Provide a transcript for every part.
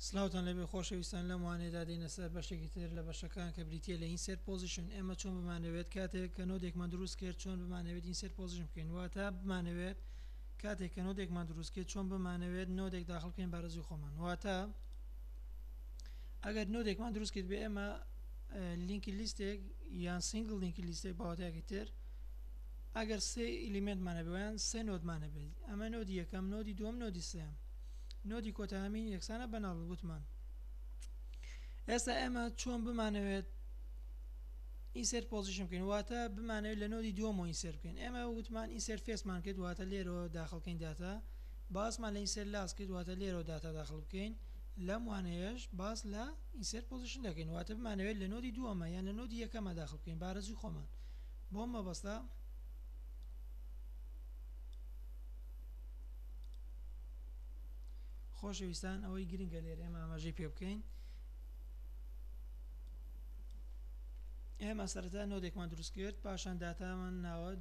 سلاوتان لێبێ خۆشەویستان لەم وانەیەدا دێینە سەر بەشێکی تر لە بەشەکان کە بریتیە لە ئینسێرت پۆزیشن ئێمە چۆن بمانەوێت کاتێک کە نۆدێکمان دروست کرد چۆن بمانەوێت ئینسێرت پۆزیشن بکەین واتە بمانەوێت کاتێک کە نۆدێکمان دروست کرد چۆن بمانەوێت نۆدێک داخڵ بکەین بارەزوی خۆمان واتە ئەگەر نۆدێکمان دروست کرد بێ ئێمە لینکی لیستێک یان سنگل لینکی لیستێک باوەتەیەکی تر ئەگەر سێ ئیلیمێنتمان هەبێ و یان سێ نۆدمان هەبێ ئەمە نۆدی یەکەم نۆدی دووەم نۆدی سێیەم نۆدی کۆتا هەمین یەکسانە بە ناڵ وتمان ئێستا ئێمە چۆن بمانەوێت ئینسێر پۆزیشن بکەین واتە بمانەوێت لە نۆدی دووەمەوە ئینسێر بکەین ئێمە وتمان ئینسێر فێسمان کرد واتە لێرەوە داخڵکەین داتا باسمان لە ئینسێر لاس کرد واتە لێرەوە داتا داخڵ بکەین لەم وانەیەش باس لە ئینسێر پۆزیشن دەکەین واتە بمانەوێت لە نۆدی دووەمە یان لە نۆدی یەکەمە داخڵ بکەین بارەزی خۆمان بەو مەبەستە خۆشەویستان ئەوەی گرنگە لێر ئێمە ئاماژەی پێ بکەین ئێمە سەرەتا نۆدێکمان دروست کرد پاشان داتامان ناوە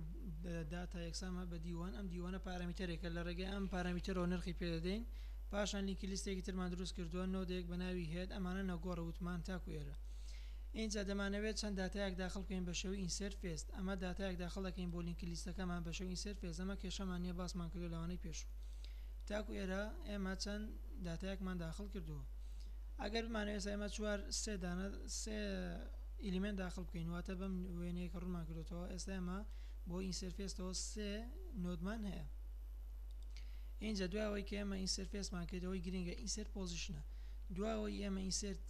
داتا یەکسامە بە دیوان ئەم دیوانە پارەمیتەرێکە لە ڕێگەی ئەم پارەمیتەرەوە نرخی پێدەدەین پاشان لینکی لیستێکی ترمان دروست کردووە نۆدێک بە ناوی هێت ئەمانە نەگۆڕە وتمان تاکو ئێرە ئینجا دەمانەوێت چەند داتایەک داخل بکەین بە شێوەی ئینسێرت فێست ئەمە داتایەک داخل دەکەین بۆ لینکی لیستەکەمان بە شێوەی ئینسێرت فێست ئەمە کێشەمان نیە باسمان کردوە لەوانەی پێشوو تاکو ئێرە ئێمە چەند داتایەکمان داخل کردوە ئەگەر بمانەوێت ئێستا ئێمە چوار سێ دانە سێ ئیلیمێنت داخل بکەین واتە بەم وێنەیە کە ڕوونمان کردوەوە ئێستا ئێمە بۆ ئینسێرت فێستەوە سێ نۆدمان هەیە اینجا دوای ئەوەی کە ئێمە ئینسێرت فێستمان کردەوەی گرنگە ئینسێرت پۆزیشنە دوای ئەوەی ئێمە ئینسێرت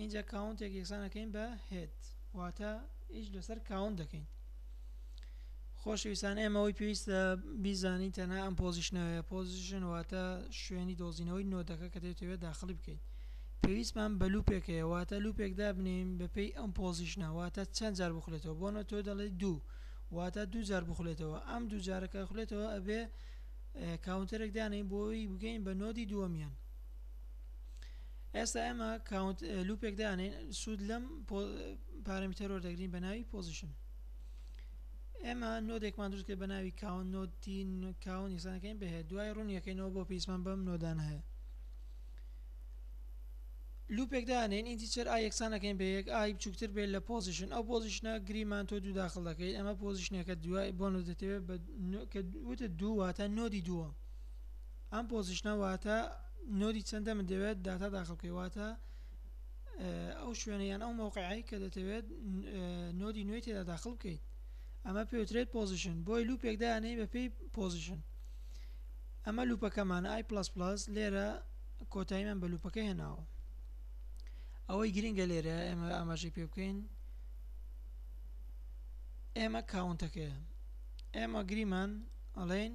اینجا کاونتێک یەکسان دەکەین بە هێد واتە ئیش لەسەر کاونت دەکەین خۆشەویستان ئێمە ئەوی پێویستە بیزانین تەنها ئەم پۆزیشنەوەیە پۆزیشن واتە شوێنی دۆزینەوەی نۆدەکە کە دەێتەوێت داخلی بکەین پێویستمان بە لوپێکەیە واتە لوپێک دابنین بەپی ئەم پۆزیشنە واتە چەند جار بخلێتەوە بۆنە تۆ دەڵێ دوو واتە دوو جار بخلێتەوە ئەم دوو جارەکە خلێتەوە ئەبێ کاونتەرێک دانەی بۆی بگەین بە نۆدی دووەمیان ئێستا ئێمە کاونت لوپێک دانێن سوود لەم پارەمیتەرۆر دەگرین بە ناوی پۆزیشن ئێمە نۆدێکمان دروست کرد بە ناوی کاون نۆتین کاون یسانەکەین بهێت دوای ڕوونیەکەینەوە بۆ پیسمان بەم نۆدان هەیە لوپێک دانێن ئینتیچەر ئا یەکسانەکەین بە یەک ئای بچووکتر بێت لە پۆزیشن ئەو پۆزیشنە گریمان تۆ دوو داخل دەکەیت ئەمە پۆزیشنەکە دوای بۆ نۆ دەتەوێت کە وتە دوو واتە نۆدی دووە ئەم پۆزیشنە واتە نۆدی چەندە من دەوێت داتا داخل بکەی واتە ئەو شوێنە یان ئەو مەوقعی کە دەتەوێت نۆدی نوێی تێدا داخل بکەیت ئەمە پێوترێت پۆزیشن بۆی لوپێک دانەی بەپی پۆزیشن ئەمە لوپەکەمان ئای پلس پلس لێرە کۆتایی من بە لوپەکە هێناوە ئەوەی گرنگە لێرە ئێمە ئاماژەی پێ بکەین ئێمە کاونتەکەیە ئێمە گریمان ئەڵێن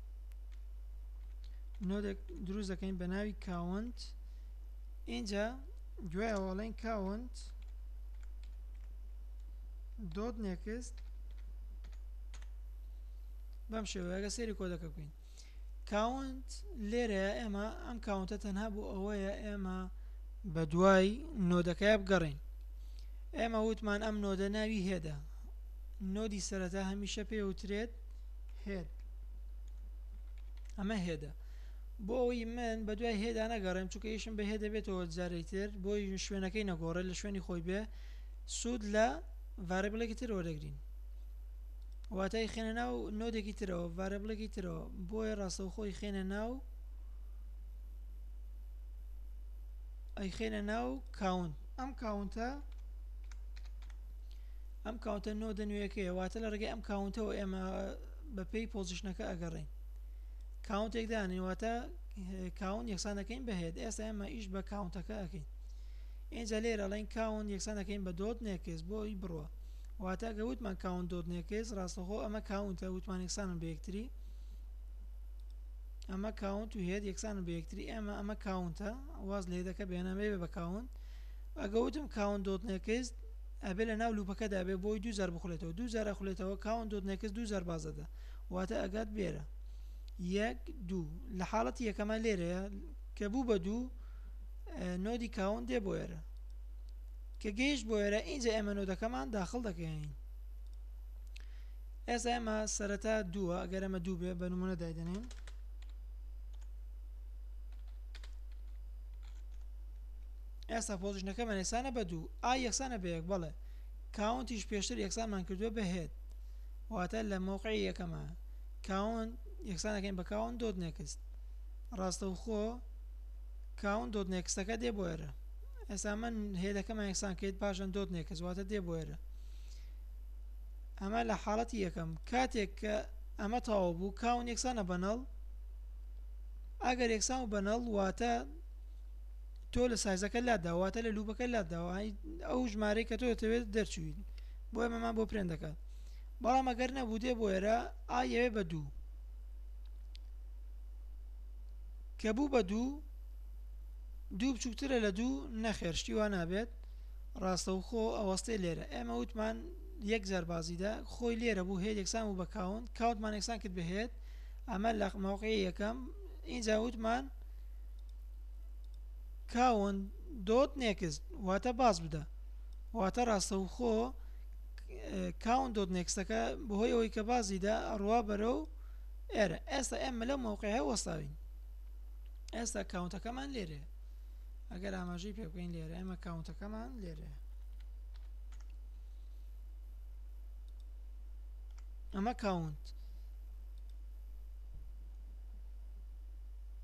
نۆدێک دروست دەکەین بە ناوی کاونت اینجا دوای ئەوڵێن کاونت دۆت نێکست بەم شێوەیەگە سێری کۆدەکە بکەین کاونت لێرە ئێمە ئەم کاونتە تەنها بۆ ئەوەیە ئێمە بە دوای نۆدەکەی بگەڕین ئێمە وتمان ئەم نۆدە ناوی هێدە نۆدی سەرەتا هەمیشە پێوترێت هێد ئەمە هێدە بۆ ئەوی من بە دوای هێدا نەگەڕێم چونکە یشم بە هێدە بێتەوە جارێک تر بۆی شوێنەکەی نەگۆڕێت لە شوێنی خۆی بێ سوود لە ڤارە بڵێکی تر وەردەگرین واتای خێنە ناو نۆدێکی ترەوە ڤارە بڵێکی ترەوە بۆیە ڕاستەو خۆی خێنە ناو ئەی خێنە ناو کاونت ئەم کاونتە ئەم کاونتە نۆدە نوێیەکەیە واتە لە ڕێگەی ئەم کاونتەوە ئێمە بە پێی پۆزیشنەکە ئەگەڕێین کاونتێک دانین واتە کاون یەکسان دەکەین بە هێد ئێستا ئێمە ئیش بە کاونتەکە ئەەکەین ئێجا لێرە ڵین کاون یەکسان دەکەین بە دۆت نێکس بۆی بڕە واتە گە وتمان کاون دۆت نێکس ڕاستەخۆ ئەمە کاونتە وتمان یەکسانن بە یەکتری ئەمە کاونت و هێت یەکسان بە یەکتری ئێمە ئەمە کاونتە واز لێدەکە بێنەمەێ بە کاونت ئەگەوتم کاون دۆت نێکست ئەبێ لە ناو لوپەکەدا بێ بۆی دوو جار بخولێتەوە دوو جار ئەخولێتەوە کاونت دۆت نێکست دوو جار باز دەدا واتە ئەگات بێرە یەک دوو لە حاڵەتی یەکەمە لێرەیە کە بوو بە دوو نۆدی کاون دێ بۆ ئێرە کە گەیشت بۆ ئێرە ئینجا ئێمە نۆدەکەمان داخل دەکەین ئێستا ئێمە سەرەتا دووە ئەگەر ئەمە دوو بێ بە نمونە دایدەنێن ئێستا پۆزیشنەکەمان یەکسانە بە دوو ئای یەکسانە بە یەک بەڵێ کاونتیش پێشتر یەکسانمان کردووە بە هێد واتە لە مۆقعی یەکەمە کاون یەکسانەکەین بە کاون دۆت نێکست ڕاستەوخۆ کاون دۆت نێکستەکە دێ بۆ ئێرە ئێستا من هێدەکەمان یەکسان کرد پاشان دۆت نێکس واتە دێ بۆ ئێرە ئەمە لە حاڵەتی یەکەم کاتێک کە ئەمە تەواو بوو کاون یەکسانە بەنەڵ ئەگەر یەکسان و بەنەڵ واتە تۆ لە سایزەکە لادا واتە لە لوبەکە لاداوە ئەو ژمارەی کە تۆ دەتەوێت دەرچوین بۆ ئەمەمان بۆ پرێن دەکات بەڵام ئەگەر نەبوو دێ بۆ ئێرە ئاەوێ بە دوو کە بوو بە دوو دوو بچووکترە لە دوو نەخێر شتی وا نابێت ڕاستەوخۆ ئەوەستێ لێرە ئێمە وتمان یەک جاربازیدا خۆی لێرە بوو هەیە یەکسان و بە کاونت کاوتمان یەکسان کرد بهێت ئەمە لە ماوقعی یەکەم اینجا وتمان کاونت دۆت نێکست واتە باز بدە واتە ڕاستەوخۆ کاونت دۆت نێکستەکە بەهۆی ئەوەی کە بازی دا ئەڕوا بەرە و ئێرە ئێستا ئێمە لە مۆقعی وەستاوین ئێستا کاونتەکەمان لێرێ ئەگەر ئاماژەی پێ بکەین لێرە ئێمە کاونتەکەمان لێرێ ئەمە کاونت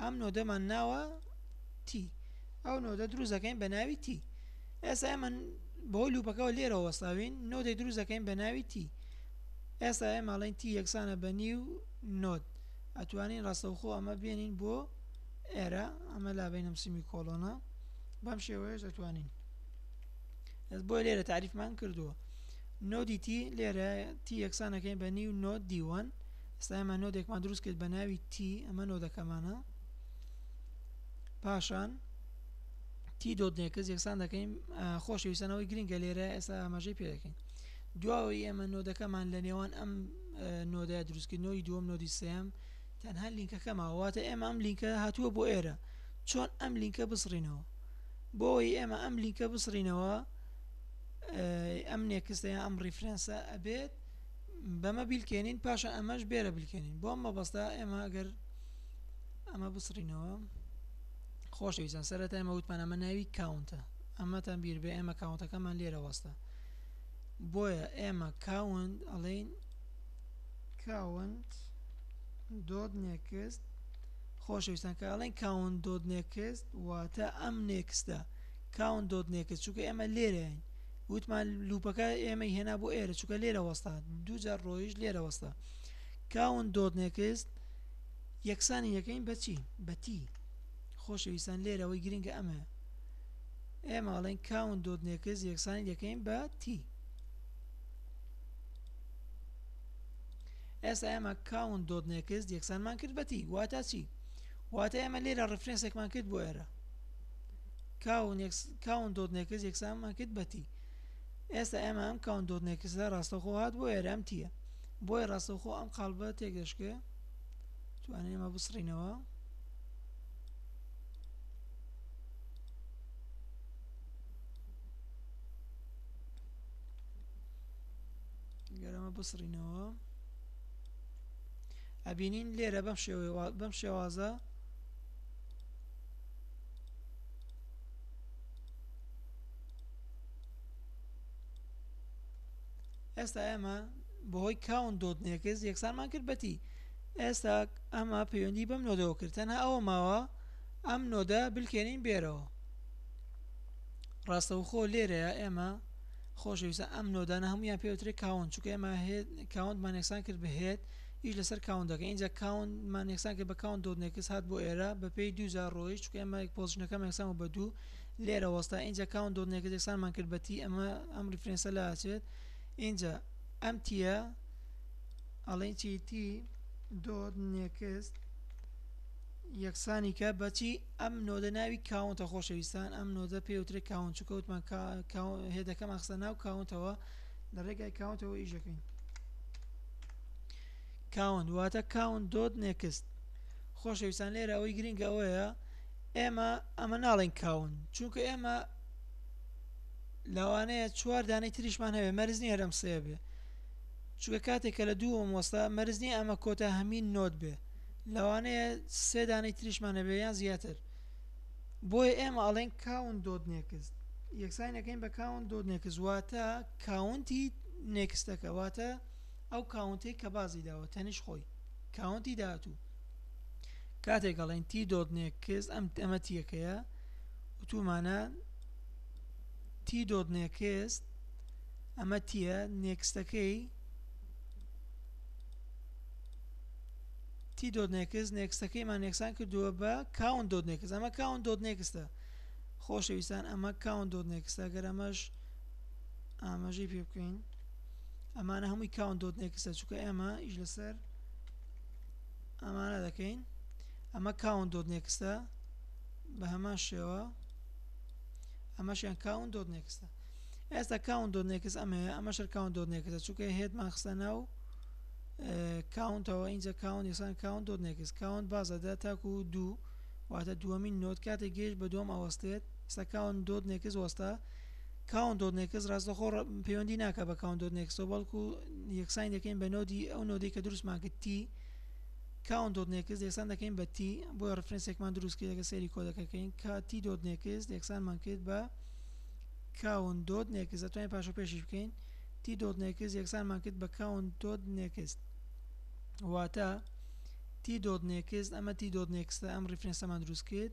ئەم نۆدەمان ناوە تی ئەو نۆدە دروست دەکەین بە ناوی تی ئێستا من بەهۆی لوپەکەەوە لێرە وەساوین نۆدەی دروست دەکەین بە ناوی تی ئێستا ئێماڵین تی یەکسانە بە نیو نۆت ئەتوانین ڕاستەوخۆ ئەمە بێنین بۆ ئێرە ئەمە لا بینم سیمی کۆڵۆنا بەم شێوەیەش ئەتوانین ئەس بۆ لێرە تعریفمان کردووە نۆدی تی لێرە تی یەکسانەکەین بە نیو نۆت دیوان ئێستا ئێمە نۆدێکمان دروست کرد بە ناوی تی ئەمە نۆدەکەمانە پاشان تی دۆت نێکس یەکسان دەکەین خۆشەویستانەوەی گرنگە لێرە ئێستا ئاماژەی پێ دەکەین دواوەی ئێمە نۆدەکەمان لە نێوان ئەم نۆدای دروستکردنەوەی دووەم نۆدی سم تەنها لینکەکەما واتە ئێمە ئەم لینکە هاتووە بۆ ئێرە چۆن ئەم لینکە بسڕینەوە بۆی ئێمە ئەم لینکە بسڕینەوە ئەم نێکستەیە ئەم ریفرەنسە ئەبێت بەمە بیلکێنین پاشان ئەمەش بێرە بلکێنین بۆ ئەم مەبەستە ئێمە گەر ئەمە بسڕینەوە خۆشەویستان سەرەتا ئمە وتمان ئەمە ناوی کاونتە ئەمەتان بیر بێ ئێمە کاونتەکەمان لێرە وەستە بۆیە ئێمە کاونت ئەڵین کاونت دۆت نێکست خۆشەویستان کە ئەڵێن کاون دۆت نێکست واتە ئەم نێکستە کاون دۆت نێکست چونکە ئێمە لێرەین وتمان لوپەکە ئێمەی هێنا بۆ ئێرە چووکە لێرە وەستا دوجار ڕۆیش لێرە وەستا کاون دۆت نێکست یەکسانی یەکەین بەچی بەتی خۆشەویستان لێرەوەی گرنگە ئەمە ئێمە ئەڵێن کاون دۆت نێکست یەکسانی یەکەین بە تی ئێستا ئێمە کاون دۆت نێکست یەکسانمان کرد بەتی واتە چی واتە ئێمە لێرە ڕفرێنسێکمان کرد بۆ ئێرە کاونت دۆت نێکس یەکسانمان کرد بە تی ئێستا ئێمە ئەم کاونت دۆت نێکسدا ڕاستەخۆ هات بۆ ئێرام تیە بۆیە ڕاستەخۆ ئەم قاڵبە تێک دەشکێ توانێ ئێمە بسڕینەوە گەرەمە بسڕینەوە ئەبینین لێرە بەم شێوەیە بەم شێوازە ئێستا ئێمە بەهۆی کاون دۆت نێکس یەکسانمان کرد بەتی ئێستا ئەمە پەیوەندی بەم نۆدەوە کرد تەنها ئەوە ماوە ئەم نۆدە بلکێنین بێرەوە ڕاستەوخۆ لێرەیە ئێمە خۆشەویستە ئەم نۆدانە هەمویان پێوترێک کاون چکە ئێمە کاونتمان یەکسان کرد بهێت ئیش لەسەر کاونت دەکەین ئینجا کاونت مان یەکسان کرد بە کاونت دۆت نێکس هات بۆ ئێرە بە پێی دوو جار ڕۆیشت چونکە ئێمە پۆزیشنەکەم یەکسان بوو بە دوو لێرە وەستا ئینجا کاونت دۆت نێکس یەکسان مان کرد بە تی ئەمە ئەم ریفرێنسە لە ئاچێت ئینجا ئەم تیە ئەڵێن چی تی دۆت نێکس یەکسانی کە بەچی ئەم نۆدە ناوی کاونتە خۆشەویستان ئەم نۆدە پێوترێ کاون چکەوتمان هێدەکەم ئەخسە ناو کاونتەوە لە ڕێگای کاونتەوە ئیشەکەین کاونت واتە کاونت دۆت نێکست خۆشەویستان لێرە ئەوەی گرنگ ئەوەیە ئێمە ئەمە ناڵێن کاون چونکە ئێمە لەوانەیە چوار دانەی تریشمان هەوێ مەرزنی هەرم سێ بێ چوە کاتێک کە لە دوو مۆستا مەرزنی ئەمە کۆتا هەمین نۆت بێ لەوانەیە سێ دانەی تریشمان هەبێ یان زیاتر بۆیە ئێمە ئەڵێن کاون دۆت نێکست یەکسانەکەین بە کاون دۆت نێکس واتە کاونتی نێکستەکە واتە ئەو کاونتەی کە بازی داوە تەنیش خۆی کاونتی داهاتوو کاتێک ئەڵێن تی دۆت نێکس ئەم ئەمە تیەکەیە وتومانە تی دۆت نێکس ئەمە تیە نێکستەکەی تی دۆت نێکس نێکستەکەیمان نێکسان کردووە بە کاون دۆت نێکس ئەمە کاون دۆت نێکستە خۆشەویستان ئەمە کاون دۆت نێکستە گەر ئەمەش ئاماژەی پێ بکەین ئەمانە هەمووی کاون دۆت نێکسە چونکە ئێمە ئیش لەسەر ئەمانە دەکەین ئەمە کاون دۆت نێکستە بە هەمان شێوە ئەمەشیان کاون دۆت نێکستە ئێستا کاون دۆت نێکس ئەمەیە ئەمە شەر کاون دۆت نێکسە چونکە هێتمان خستە ناو کاونتەوە ئینجا کاون یسان کاون دۆت نێکس کاون بازەدا تاکو و دوو واتە دووەمین نۆت کاتێک گەشت بە دۆم ئەوەستێت سەکاون دۆت نێکس وەستا کاونت دۆت نێکس ڕاستەخۆ پەیوەندی ناکە بە کاونت دۆت نێکسەوە بەڵکو یەکسانی دەکەین بە نۆدی ئەو نۆدەی کە دروستمان کرد تی کاونت دۆت نێکس یەکسان دەکەین بە تی بۆ ڕفرەنسێکمان دروست کرد لەگە سەیری کۆدەکەکەین کا تی دۆت نێکس یەکسانمان کرد بە کاون دۆت نێکس دەتوانین پاشە پێشیش بکەین تی دۆت نێکس یەکسانمان کرد بە کاون دۆت نێکس واتە تی دۆت نێکس ئەمە تی دۆت نێکسە ئەم ڕفرەنسەمان دروست کرد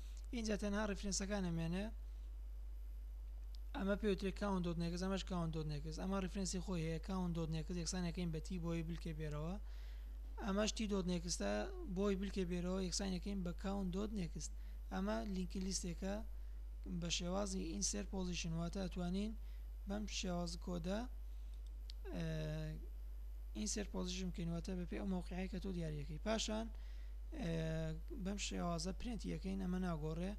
ئینجا تەنها ڕیفرێنسەکان ئەمێنێ ئەمە پێوترێک کاون دۆت نێکس ئەمەش کاون دۆت نێکس ئەمە ڕیفرەنسی خۆی هەیە کاون دۆت نێکس یەکسانەکەین بە تی بۆی بلکێ بێرەوە ئەمەش تی دۆت نێکستە بۆی بلکێ بێرەوە یەکسانەکەین بە کاون دۆت نێکست ئەمە لینکی لیستێکە بە شێوازی ئینسەر پۆزیشن واتە ئەتوانین بەم شێواز کۆدە ئینسەر پۆزیشن بکەین واتە بەپێ ئەو مەوقعی کە تۆ دیارەکەی پاشان بەم شێوازە پرینتی یەکەین ئەمە ناگۆڕێ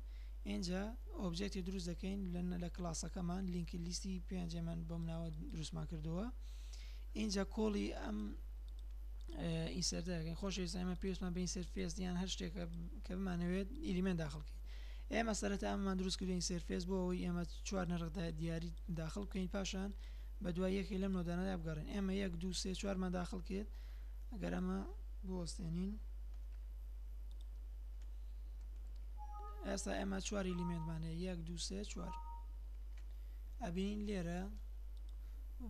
ئینجا ئۆبجێکتی دروست دەکەین لەنە لە کلاسەکەمان لینکی لیستی پێنجێمان بەم ناوە دروستمان کردووە اینجا کۆڵی ئەم ئینسەردەکەین خۆش ئێستا پێستمان بە ئینسەرفێس یان هەر شتێکە کە بمانەوێت ئیلیمێن داخڵکەین ئێمە سەرەتا ئەممان دروست کردو ئینسەرفێس بۆ ئەوی ئێمە چوار نەرخدا دیاری داخڵ بکەین پاشان بە دوای یەکێ لەم نۆدانەدا بگەڕین ئێمە یەک دو سێ چوارمان داخڵ کرد ئەگەر ئەمە بوەستێنین ئێستا ئێمە چوار ئلیمێنتمانە یەک دو سێ چوار ئەبین لێرە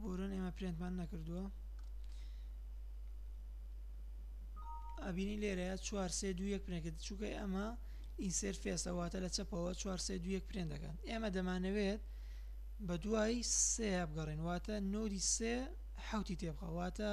بۆرن ئێمە پرێنتمان نەکردووە ئەبینی لێرەیە چوار سێ دو یەک پرێنکرد چووکە ئەمە ئینسێر فێسەواتە لە چەپەوە چوار سێ دو یەک پرێن دەکەن ئێمە دەمانەوێت بە دوای سێ بگەڕێن واتە نۆری سێ حوتی تێبخەواتە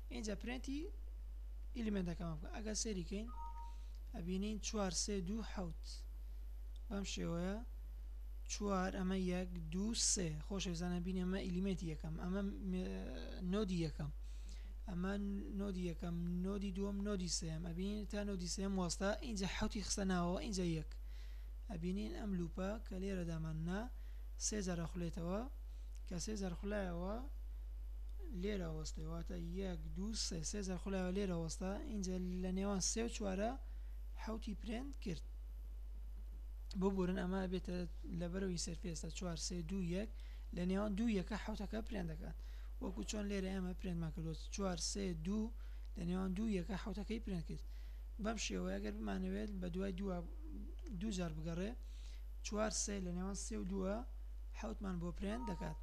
ئینجا پرێنتی ئیلیمێنتەکەمان بکە ئەگەر سەیری کەین ئەبینین چوار سێ دوو حەوت بەم شێوەیە چوار ئەمە یەک دوو سێ خۆشەویستانە بین ئەمە ئیلیمێنتی یەکەم ئەمە نۆدی یەکەم ئەمە نۆدی یەکەم نۆدی دووەم نۆدی سێم ئەبین تا نۆدی سێم وەستا ئینجا حوتی خستە ناوەوە ئینجا یەک ئەبینین ئەم لوپە کە لێرەدامان نا سێ جارە خولێتەوە کە سێ زەرخولایەوە لێرە وەستێ واتە یەک دوو سێ سێ زەرخولایەوە لێرە وەستا ئینجا لە نێوان سێ و چوارە حوتی پرێنت کرد ببورن ئەمە بێتە لەبەرەوەی سەرفێستا چوار سێ دوو یەک لە نێوان دوو یەکە حوتەکە پرێن دەکات وەکو چۆن لێرە ئێمە پرێنمان کردوە چوار سێ دوو لە نێوان دوو یەکە حوتەکەی پرێن کرد بەم شێوەیە گەر بمانەوێت بە دوای دووە دوو جار بگەڕێ چوار سێ لە نێوان سێ و دووە حەوت مان بۆ پرێنت دەکات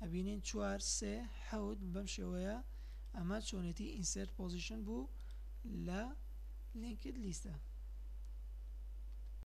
ئەبینین چوار سێ حەوت بەم شێوەیە ئەمە چۆنێتی ئینسرت پۆزیشن بوو لە لینکد لیستە